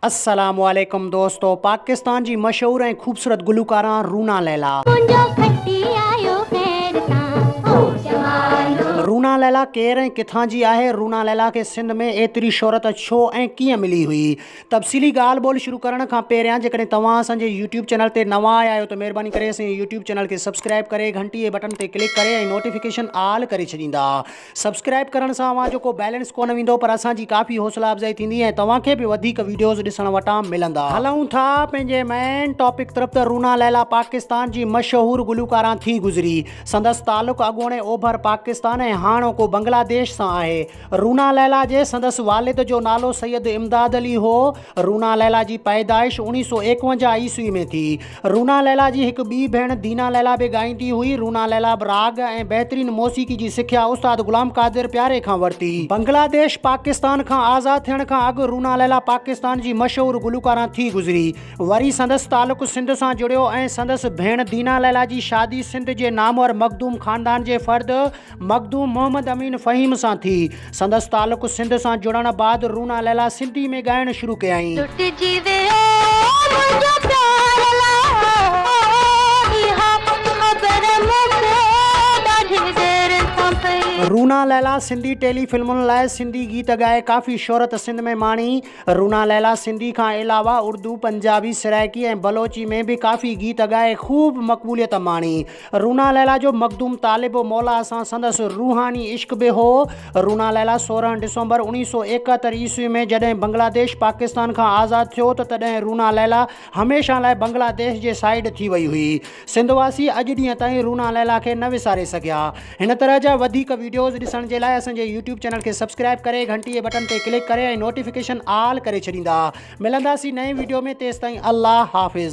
السلام عليڪم دوستو پاڪستان جي مشهور ۽ خوبصورت گلوڪارا رونا ليلا. منهنجو کٽي آيو خير سان او جوانو. رونا ليلا ڪير ۽ ڪٿان جي آهي؟ رونا ليلا کي سنڌ ۾ ايتري شهرت ڇو ۽ ڪيئن ملي هئي؟ تفصيلي ڳالهه ٻولهه شروع ڪرڻ کان پهريان جيڪڏهن توهان اسان جي يوٽيوب چينل تي نوان آيا آهيو ته مهرباني ڪري اسان جي يوٽيوب چينل کي سبسڪرائب ڪري گهنٽي جي بٽڻ تي ڪلڪ ڪري ۽ نوٽيفڪيشن آل ڪري ڇڏيندا سبسڪرائب ڪرڻ سان اوهان جو ڪو بيلنس ڪونه ويندو پر اسان جي ڪافي حوصلا افزائي ٿيندي ۽ توهان کي به وڌيڪ ويڊيوز ڏسڻ وٽان ملندا. هلون ٿا پنهنجي مين ٽاپڪ طرف ته رونا ليلا پاڪستان جي مشهور گلوڪاران ٿي گذري. سندس تعلق اڳوڻي اوڀر پاڪستان ۽ هاڻوڪو بنگلاديش سان آهي. رونا ليلا جي سندس والد جو نالو سيد امداد علي هو. رونا ليلا جي پيدائش اوڻيهه سؤ ايڪونجاهه عيسوي ۾ ٿي. رونا ليلا جي هڪ ٻي ڀيڻ دينا ليلا به ڳائيندي هئي. رونا ليلا به راڳ ۽ بهترين موسيقي جي سکيا استاد غلام قادر پياري کان ورتي. بنگلاديش پاڪستان کان آزاد ٿيڻ کان اڳ رونا ليلا پاڪستان جي مشهور گلوڪاران ٿي گذري. وري سندس تعلق سنڌ سان جڙيو ۽ سندس ڀيڻ دينا ليلا جي شادي سنڌ جي نامور مخدوم خاندان جي فرد، مخدوم محمد امين فهيم سان ٿي. سندس تعلق سنڌ سان جڙڻ بعد رونا ليلا سنڌي ۾ ڳائڻ شروع ڪيائين. لٽجي ويو منهنجو پيار لا اها خبر مون کي ڏاڍي دير سان پئي. رونا ليلا سنڌي ٽيلي فلمن لاء سنڌي گيت ڳائي ڪافي شهرت سنڌ ۾ ماڻي. رونا ليلا سنڌي کان علاوه اردو، پنجابي، سرائڪي ۽ بلوچي ۾ به ڪافي گيت ڳائي خوب مقبوليت ماڻي. رونا ليلا جو مخدوم طالب و مولا سان سندس روحاني عشق به هو. رونا ليلا سورهن ڊسمبر اوڻيهه سؤ ايڪهتر عيسوي ۾ جڏهن بنگلاديش پاڪستان کان آزاد ٿيو ته تڏهن رونا ليلا هميشه لاء بنگلاديش جي سائيڊ ٿي وئي هئي. سنڌ واسي اڄ ڏينهن تائين رونا ليلا کي نه وساري سگهيا. هن طرح جا وڌيڪ وڊيوز ڏسڻ جي لاء اسان جي يوٽيوب چينل کي سبسڪرائيب ڪري گهنٽي جي بٽن تي ڪلڪ ڪري ۽ نوٽيفڪيشن آل ڪري ڇڏيندا. ملنداسين نئين وڊيو ۾ تيستائين الله حافظ.